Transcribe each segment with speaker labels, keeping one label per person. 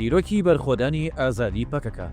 Speaker 1: چیرۆکی بەرخۆدانی ئازادی پەکەکە.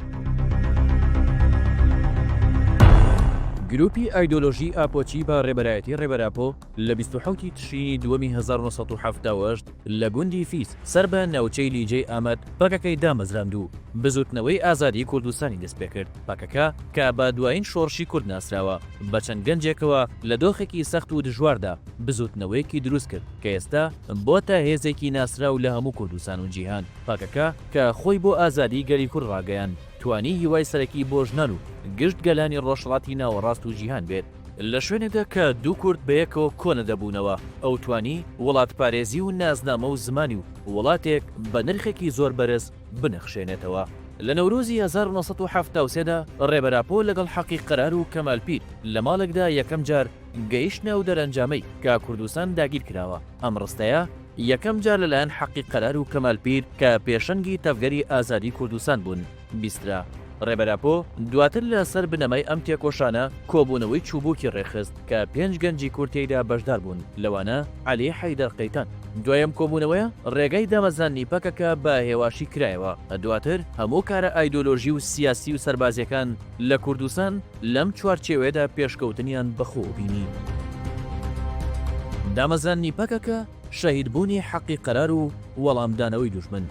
Speaker 1: گرووپی ئایدۆلۆژیی ئاپۆچی بە ڕێبەرایەتی ڕێبەر ئاپۆ لە بیست و حەوت ی تشرینی دووەمی هەزار و نۆ سەد و حەفتا و هەشت لە گوندی فیس سەر بە ناوچەی لیجەی ئامەد پەکەکەی دامەزراند و بزووتنەوەی ئازادیی کوردستانی دەست پێ کرد. پەکەکە کە بە دوایین شۆڕشی کورد ناسراوە، بە چەند گەنجێکەوە لە دۆخێکی سەخت و دژواردا بزووتنەوەیەکی دروست کرد. کە ئێستا بۆتە هێزێکی ناسراو لە هەموو کوردستان و جیهان، پەکەکە، کە خۆی بۆ ئازادیی گەلی کورد ڕاگەیاند، توانی هیوای سەرەکی بۆ ژنان و گشت گەلانی ڕۆژهەڵاتی ناوەڕاست و جیهان بێت. لە شوێنێکدا کە دوو کورد بەیەکەوە کۆ نەدەبوونەوە، ئەو توانی وڵاتپارێزی و نازنامە و زمانی و وڵاتێک بە نرخێکی زۆر بەرز بنەخشێنێتەوە. لە نەورۆزی هەزار و نۆ سەد و حەفتا و سێ دا ڕێبەر ئاپۆ لەگەڵ حەقی قەرار و کەمال پیر لە ماڵێکدا یەکەم جار گەیشتنە ئەو دەرەنجامەی کە کوردستان داگیر کراوە، ئەم ڕستەیە یەکەم جار لەلایەن حەقی قەرار و کەمال پیر کە پێشەنگی تەڤگەری ئازادی کوردستان بوون، بیسترا. ڕێبەر ئاپۆ دواتر لە سەر بنەمای ئەم تێکۆشانە کۆبوونەوەی چووبووکی ڕێکخست کە پێنج گەنجی کورد تێیدا بەشدار بوون لەوانە عەلی حەیدەر قەیتان. دوای ئەم کۆبوونەوەیە ڕێگای دامەزراندنی پەکەکە بە هێواشی کرایەوە، دواتر هەموو کارە ئایدۆلۆژی و سیاسی و سەربازییەکان، لە کوردستان لەم چوارچێوەیەدا پێشکەوتنیان بەخۆوە بینی. دامەزراندنی پەکەکە، شەهیدبوونی حەقی قەرار و وەڵامدانەوەی دوژمن.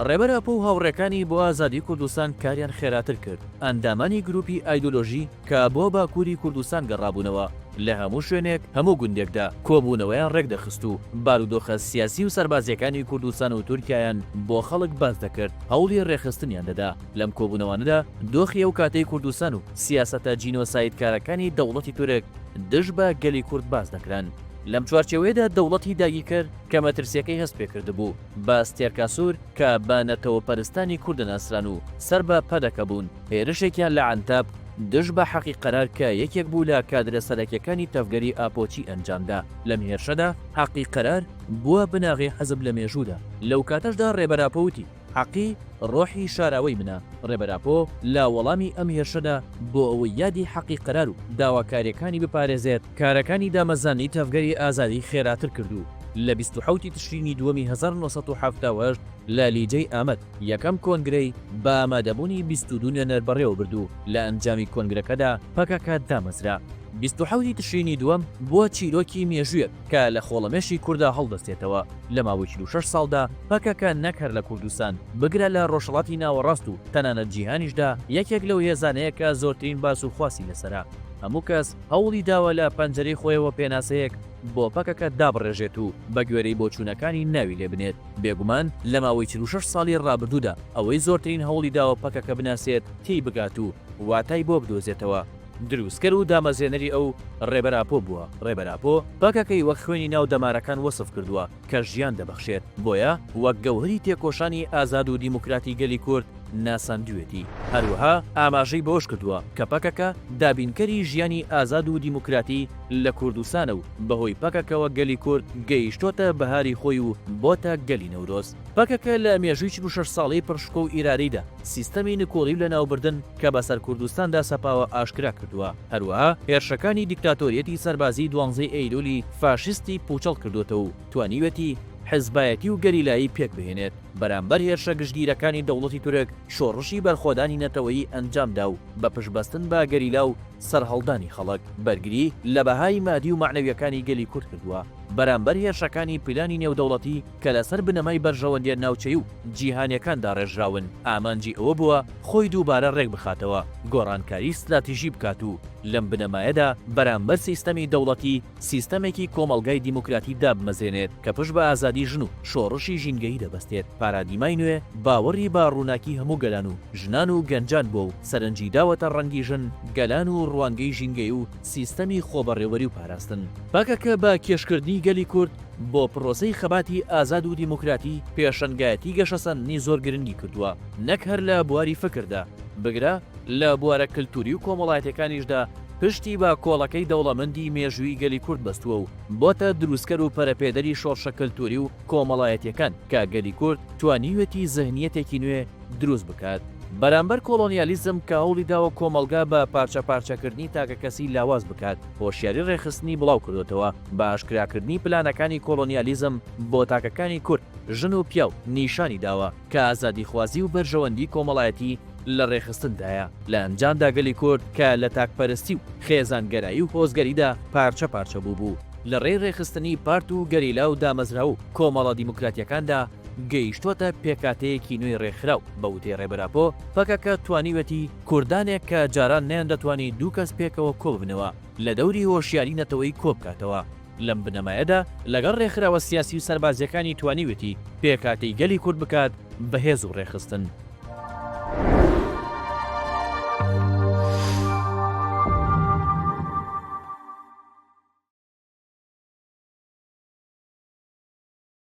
Speaker 1: ڕێبەر ئاپۆ و هاوڕێکانی بۆ ئازادی کوردستان کاریان خێراتر کرد، ئەندامانی گرووپی ئایدۆلۆژی، کە بۆ باکووری کوردستان گەڕابوونەوە، لە هەموو شوێنێک، هەموو گوندێکدا کۆبوونەوەیان ڕێکدەخست و بارودۆخە سیاسی و سەربازییەکانی کوردستان و تورکیایان بۆ خەڵک باس دەکرد، هەوڵی ڕێکخستنیان دەدا. لەم کۆبوونەوانەدا دۆخی ئەو کاتەی کوردستان و سیاسەتە جینۆسایدکارەکانی دەوڵەتی تورک دژ بە گەلی کورد باس دەکران. لەم چوارچێوەیەدا دەوڵەتی داگیرکەر کە مەترسییەکەی هەست پێ کردبوو بە ستێرکاسور کە بە نەتەوەپەرستانی کورد دەناسران و سەر بە پەدەکە بوون، هێرشێکیان لە عەنتاب دژ بە حەقی قەرار کە یەکێک بوو لە کادرە سەرەکیەکانی تەڤگەری ئاپۆچی ئەنجامدا، لەم هێرشەدا حەقی قەرار بووە بناغەی حزب لە مێژوودا، لەو کاتەشدا رێبەر ئاپۆ وتی، حەقی رۆحی شاراوەی منە، رێبەر ئاپۆ لە وەڵامی ئەم هێرشەدا بۆ ئەوەی یادی حەقی قەرار و داواکاریەکانی بپارێزێت، کارەکانی دامەزراندنی تەڤگەری ئازادی خێراتر کرد و لە بیست و حەوت ی تشرینی دووەمی هەزار و نۆ سەد و حەفتا و هەشت لە لیجەی ئامەد، یەکەم کۆنگرەی بە ئامادەبوونی بیست و دوو نوێنەر بەڕێوەبرد و لە ئەنجامی کۆنگرەکەدا پەکەکە دامەزرا. بیست و حەوت ی تشرینی دووەم بووە چیرۆکی مێژوویەک کە لە خۆڵەمێشی کوردا هەڵدەستێتەوە، لە ماوەی چل و شەش ساڵدا پەکەکە نەک هەر لە کوردستان، بگرە لە ڕۆژهەڵاتی ناوەڕاست و تەنانەت جیهانیشدا یەکێک لەو هێزانەیە کە زۆرترین باس و خواسی لەسەرە. هەموو کەس هەوڵی داوە لە پەنجەرەی خۆیەوە پێناسەیەک بۆ پەکەکە دابڕێژێت و بە گوێرەی بۆچوونەکانی ناوی لێ بنێت. بێگومان لە ماوەی چل و شەش ساڵی ڕابردوودا ئەوەی زۆرترین هەوڵی داوە پەکەکە بناسێت، تێی بگات و واتای بۆ بدۆزێتەوە، دروستکەر و دامەزرێنەری ئەو، ڕێبەر ئاپۆ، بووە، ڕێبەر ئاپۆ پەکەکەی وەک خوێنی ناو دەمارەکان وەسف کردووە کە ژیان دەبەخشێت، بۆیە وەک گەوهەری تێکۆشانی ئازاد و دیموکراتی گەلی کورد ناساندوێتی. هەروەها ئاماژەی بەوەش کردووە کە پەکەکە دابینکەری ژیانی ئازاد و دیموکراتی لە کوردستانە و بەهۆی پەکەکەوە گەلی کورد گەیشتۆتە بەهاری خۆی و بۆتە گەلی نەورۆز. پەکەکە لە مێژووی چل و شەش ساڵەی پڕ شکۆ و ئیرادەیدا سیستەمی نکۆڵی و لەناوبردن کە بەسەر کوردستاندا سەپاوە ئاشکرا کردووە، هەروەها هێرشەکانی دیکتاتۆریەتی سەربازیی دوانزەی ئەیلوولی فاشیستی پووچەڵ کردۆتەوە و توانیوێتی حزبایەتی و گەریلایی پێک بهێنێت. بەرامبەر هێرشە گشتگیرەکانی دەوڵەتی تورک شۆڕشی بەرخۆدانی نەتەوەیی ئەنجامدا و بە پشتبەستن بە گەریلا و سەرهەڵدانی خەڵک بەرگری لە بەهای مادی و مەعنەویەکانی گەلی کورد کردووە بەرامبەر هێرشەکانی پلانی نێودەوڵەتی کە لەسەر بنەمای بەرژەوەندیە ناوچەی و جیهانیەکان داڕێژراون ئامانجی ئەوە بووە خۆی دووبارە رێکبخاتەوە گۆڕانکاری ستراتیژی بکات و لەم بنەمایەدا بەرامبەر سیستەمی دەوڵەتی سیستەمێکی کۆمەڵگای دیموکراتی دابمەزرێنێت کە پشت بە ئازادی ژن و شۆڕشی ژینگەیی دەبەستێت، پارادیمای نوێ باوەڕی بە ڕووناکی هەموو گەلان و ژنان و گەنجان بووە و سەرنجی داوەتە ڕەنگی ژن، گەلان و ڕوانگەی ژینگەیی و سیستەمی خۆبەڕێوەری و پاراستن. پەکەکە بە کێشکردنی گەلی کورد بۆ پرۆسەی خەباتی ئازاد و دیموکراتی، پێشەنگایەتی گەشەسەندنی زۆر گرنگی کردووە، نەک هەر لە بواری فکردا، بگرە لە بوارە کلتووری و کۆمەڵایەتیەکانیشدا، پشتی بە کۆڵەکەی دەوڵەمەندی مێژووی گەلی کورد بەستووە و بۆتە دروستکەر و پەرەپێدەری شۆڕشە کەلتووری و کۆمەڵایەتیەکان کە گەلی کورد توانیوێتی زهنیەتێکی نوێ دروست بکات بەرامبەر کۆڵۆنیالیزم کە هەوڵی داوە کۆمەڵگا بە پارچە پارچەکردنی تاکەکەسی لاواز بکات هۆشیاری ڕێکخستنی بڵاو کردۆتەوە بە ئاشکراکردنی پلانەکانی کۆڵۆنیالیزم بۆ تاکەکانی کورد ژن و پیاو نیشانی داوە کە ئازادیخوازی و بەرژەوەندی کۆمەڵایەتی لە ڕێکخستندایە، لە ئەنجامدا گەلی کورد کە لە تاکپەرستی و خێزانگەرایی و هۆزگەریدا پارچە پارچە بووبوو، لە ڕێی ڕێکخستنی پارت و گەریلا و دامەزراو و کۆمەڵە دیموکراتییەکاندا گەیشتووەتە پێکهاتەیەکی نوێی ڕێکخراو، بە وتەی ڕێبەر ئاپۆ، پەکەکە توانیویەتی کوردانێک کە جاران نەیاندەتوانی دوو کەس پێکەوە کۆببنەوە، لە دەوری هۆشیاری نەتەوەیی کۆبکاتەوە. لەم بنەمایەدا لەگەڵ رێکخراوە سیاسی و سەربازییەکانی توانیوێتی پێکهاتەی گەلی کورد بکات بە هێز و رێکخستن.